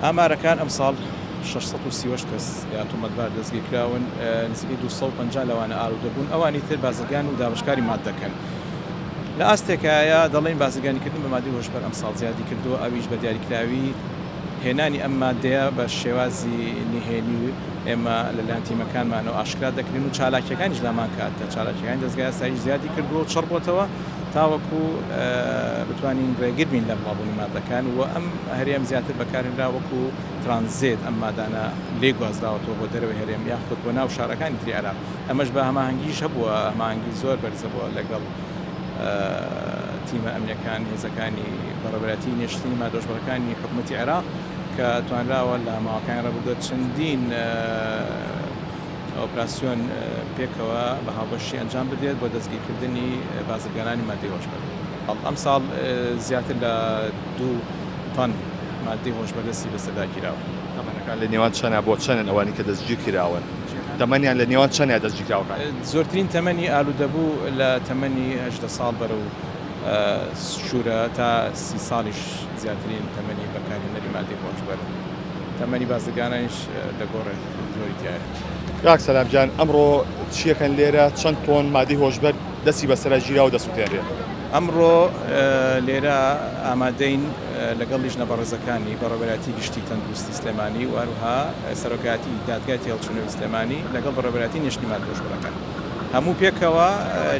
ئامارەکان، ئەمساڵ شەش سەد و سی و هەشت کەس یا تۆمەتبار دەستگیرکراون، نزیکەی دوو سەد و پەنجا لەوانە ئالوودەبوون، ئەوانی تر بازرگان و دابەشکاری ماددەکەن. لە ئاستێکایە دەڵێین بازرگانیکردن بە مادەی هۆشبەر ئەمساڵ زیادیکردووە، ئەویش بە دیاریکراوی هێنانی ئەم مادەیە بە شێوازی نهێنی و ئێمە لەلایەن تیمەکانمانەوە ئاشکرا دەکرێن و چالاکییەکانیش لامانکاتە چالاکییەکانی دەزگای ئاسایش زیادیکردووە و چڕبووەتەوە. تاوەکو بتوانین ڕێگر بین لە بڵاوبوونی ماددەکان و ئەم هەرێم زیاتر بەکارهێنرا وەکو ترانزێت ئەم مادانە لێ گوازراوەتەوە بۆ دەرەوەی هەرێم یاخود بۆ ناو شارەکانی تری عێراق ئەمەش بە هەماهەنگیش هەبووە هەماهەنگی زۆر بەرزە بووە لەگەڵ تیمە ئەمنیەکان هێزەکانی بەڕێوەبەرایەتی نێشتنی مادۆژبڕەکانی حکوومەتی عێراق کە توانراوە لە ماوەکانی ڕابردووە چەندین ئۆپراسیۆن پێکەوە بە هاوبەشی ئەنجام بدرێت بۆ دەستگیرکردنی بازرگانانی ماددەی هۆشبەر. ئەمساڵ زیاتر لە دوو تەن ماددەی هۆشبەر دەستی بەسەرداگیراوە. تەمەنەکان لە نێوان چەنە بۆ چەنن ئەوانەی کە دەستگیرکراون؟ تەمەنیان لە نێوان چەنە دەستگیرکراوەکان؟ زۆرترین تەمەنی ئالودەبوو لە تەمەنی هەژدە ساڵ بەرەو سوورە تا سی ساڵیش زیاترین تەمەنی بەکارهێنەری ماددەی هۆشبەرن. تەمەنی بازرگانانیش دەگۆڕێت. زۆری تیایە. کاک سەلام گیان ئەمڕۆ چیەکەن لێرە چەند تۆن مادەی هۆشبەر دەستی بەسەرا گیراوە دەسوتێنرێت؟ ئەمڕۆ لێرە ئامادەین لەگەڵ لیژنە بەڕێزەکانی بەڕێوەبەرایەتی گشتی تەندروستی سلێمانی و هەروها سەرۆکایەتی دادگای تێهەڵچوونەوەی سلێمانی لەگەڵ بەڕێوەبەرایەتی نێشتنی مادە هۆشبەرەکان هەموو پێکەوە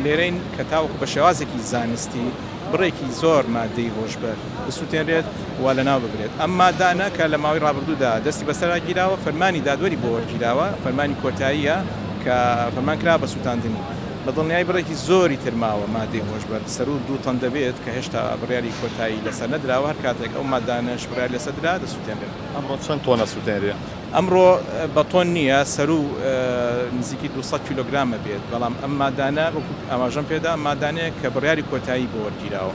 لێرەین کە تاوەکو بە شێوازێکی زانستی بڕێکی زۆر ماددەی هۆشبەر بسوتێنرێت و لەناو ببرێت، ئەم ماددانە کە لە ماوەی ڕابردوودا دەستی بەسەرا گیراوە، فەرمانی دادوەری بۆ وەرگیراوە، فەرمانی کۆتاییە کە فەرمان کراوە بە سوتاندنی، بە دڵنیایی بڕێکی زۆری تر ماوە ماددەی هۆشبەر سەروو دوو تەن دەبێت کە هێشتا بڕیاری کۆتایی لەسەر نەدراوە، هەر کاتێک ئەو ماددانەش بڕیاری لەسەر درا دەسوتێنرێن. ئەمڕۆ چەند تۆنە سوتێنرێن؟ ئەمڕۆ بە تۆن نییە، سەروو نزیکی دوو سەد کیلۆگرامە بێت، بەڵام ئەم مادانە وەکو ئاماژەم پێدا ئەم مادانەیە کە بڕیاری کۆتایی بۆ وەرگیراوە.